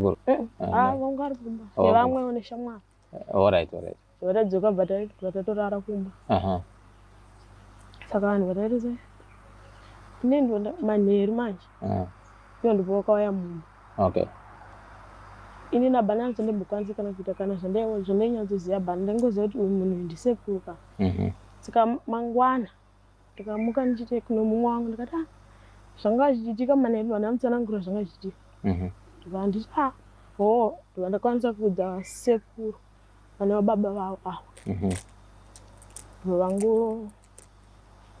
Guru. Eh, Ah, ah, no. vangu ari kumba Oh. nevamwe une shamwari All right, all right. vatadzoka bva tai- bva tatorara kumba Aha. saka vanhu vatairiza ine ndonda manheru manje Ah, iyo ndipo wakauya munhu Okay. ini nabhana anzondimbokwanisa kana kuita kana zvandainyatsoziva bhana ndaingoziva kuti uyu munhu ndisekuru ka Mhm. saka mangwana ndikamuka ndichiti kuno mumwe wangu ndikati ah zvanga zvichiitika mane vanhu vanotsanangura zvanga zvichiitika mhm. ndikanditi ah ho ndikandikwanisa kuudza sekuru vane vababa vavo ava mhm. vangu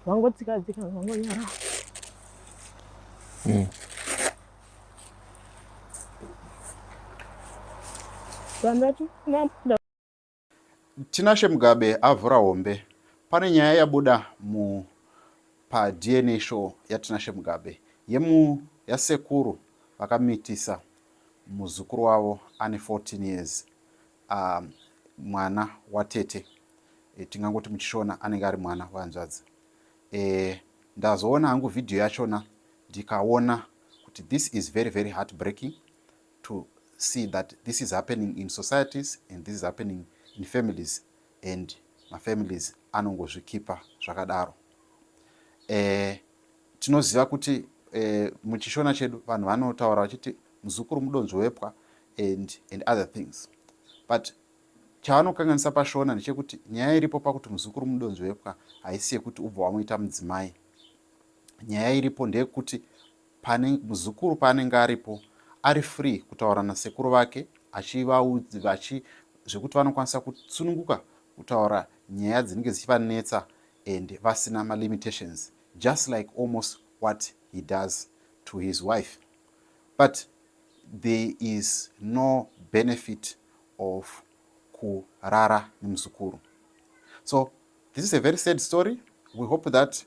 vangotsikadzika vangonyara mhm. vanhu vati Tinashe Mugabe avhura hombe. Pane nyaya yabuda mu pa DNA show yaTinashe Mugabe yemu yasekuru vakamitisa muzukuru wavo ane 14 years uh, mwana watete e, tingangoti muchishona anenge ari mwana wehanzvadzi e, ndazoona hangu vhidhiyo yachona ndikaona kuti this is very very heartbreaking to see that this is happening in societies and this is happening in families and mafamilies anongozvikipa zvakadaro eh, tinoziva kuti eh, muchishona chedu vanhu vanotaura vachiti muzukuru mudonzvo wepwa and, and other things but chavanokanganisa pashona ndechekuti nyaya iripo pakuti muzukuru mudonzvo wepwa haisi yekuti ubva wamuita mudzimai nyaya iripo ndeyekuti pane muzukuru paanenge aripo ari free kutaura nasekuru vake achivaudzi vachi zvekuti vanokwanisa kutsununguka kutaura nyaya dzinenge dzichivanetsa and vasina malimitations just like almost what he does to his wife but there is no benefit of kurara nemuzukuru so this is a very sad story we hope that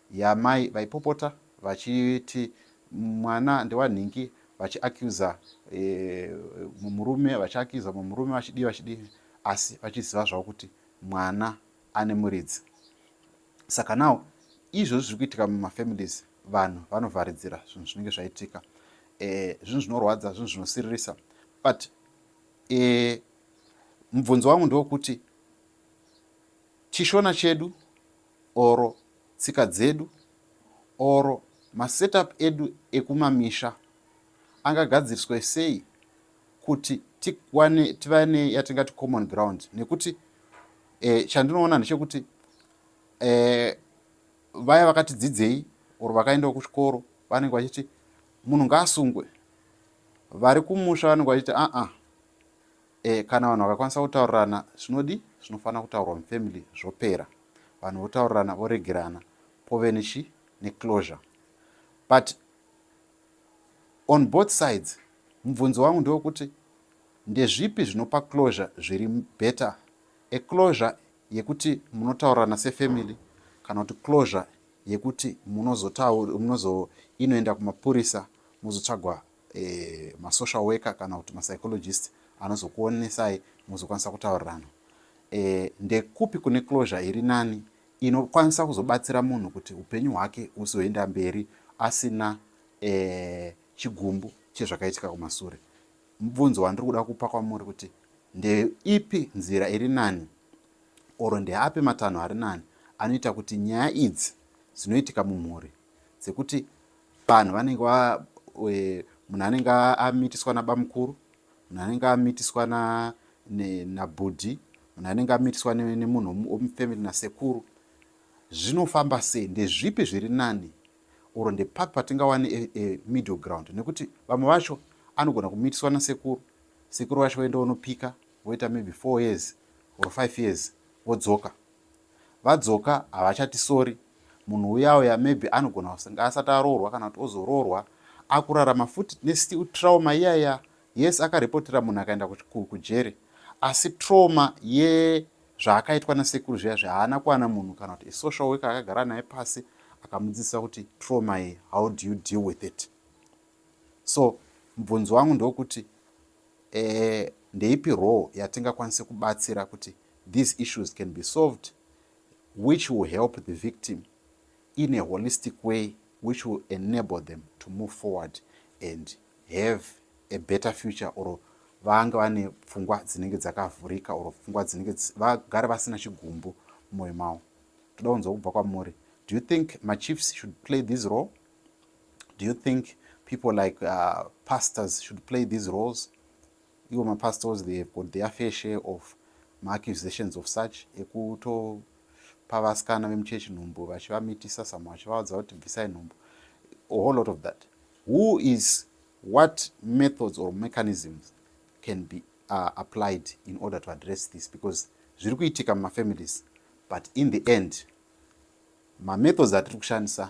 Yaa mai vaipopota vachiti mwana ndewanhingi vachi accuser mumurume vachi accuser mumurume vachidii vachidii asi vachiziva zvavo kuti mwana ane muridzi saka now izvozvi zviri kuitika mumafamilies vanhu vanovharidzira zvinhu zvinenge zvaitika eh, zvinhu zvinorwadza zvinhu zvinosiririsa but eh, mubvunzo wangu ndewokuti chishona chedu or tsika dzedu or masetup edu ekumamisha angagadziriswe sei kuti tikwane tiva neyatingati common ground nekuti eh, chandinoona ndechekuti eh, vaya vakati dzidzei or vakaendawo kuchikoro vanenge vachiti munhu ngaasungwe vari kumusha vanenge vachiti aa ah, ah. E, kana vanhu vakakwanisa kutaurirana zvinodi zvinofanira kutaurwa mufamily zvopera vanhu votaurirana voregerana pove nechi neclosure but on both sides mubvunzo wangu ndewekuti ndezvipi zvinopa closure zviri better eclosure yekuti munotaurirana sefamily kana kuti closure yekuti munozoinoenda kumapurisa mozotsvagwa eh, masocial worker kana kuti mapsychologist anozokuonesai mozokwanisa kutaurirana eh, ndekupi kune closure iri nani inokwanisa kuzobatsira munhu kuti upenyu hwake uzoenda mberi asina eh, chigumbu chezvakaitika kumasure mubvunzo wandiri kuda kupa kwamuri kuti ndeipi nzira iri nani oro ndeapi matanho ari nani anoita kuti nyaya idzi dzinoitika mumhuri dzekuti panhu vanenge munhu anenge amitiswa nabamukuru munhu anenge amitiswa nabhudhi munhu anenge amitiswa nemunhu womufamily nasekuru zvinofamba sei ndezvipi zviri nani or ndepapi patingawane e, e, middle ground nekuti vamwe vacho anogona kumitiswa nasekuru sekuru vacho voenda vonopika voita maybe four years or five years vodzoka Vadzoka havachatisori. Munhu uya uya maybe anogona kusanga asati aroorwa kana kuti ozoroorwa akurarama futi tine still trauma iyaya yes akarepotera munhu akaenda kujeri asi trauma yezvaakaitwa nasekuru zviya zvahaana kuwana munhu kana kuti isocial worker akagara naye pasi akamudzidzisa kuti trauma iyi how do you deal with it so mubvunzo wangu ndokuti eh, ndeipi role yatingakwanise kubatsira kuti these issues can be solved which will help the victim in a holistic way which will enable them to move forward and have a better future or vange vane pfungwa dzinenge dzakavhurika or pfungwa dzinenge vagare vasina chigumbu mumwoyo mavo toda kunzwa kubva kwamuri do you think machiefs should play this role do you think people like uh, pastors should play these roles ivo mapastors they have got their fair share of maaccusations of such ekuto pavasikana vemuchechi nhumbu vachivamitisa samwe vachivaudza kuti bvisai nhumbu a whole lot of that who is what methods or mechanisms can be uh, applied in order to address this because zviri kuitika mumafamilies but in the end mamethods atiri kushandisa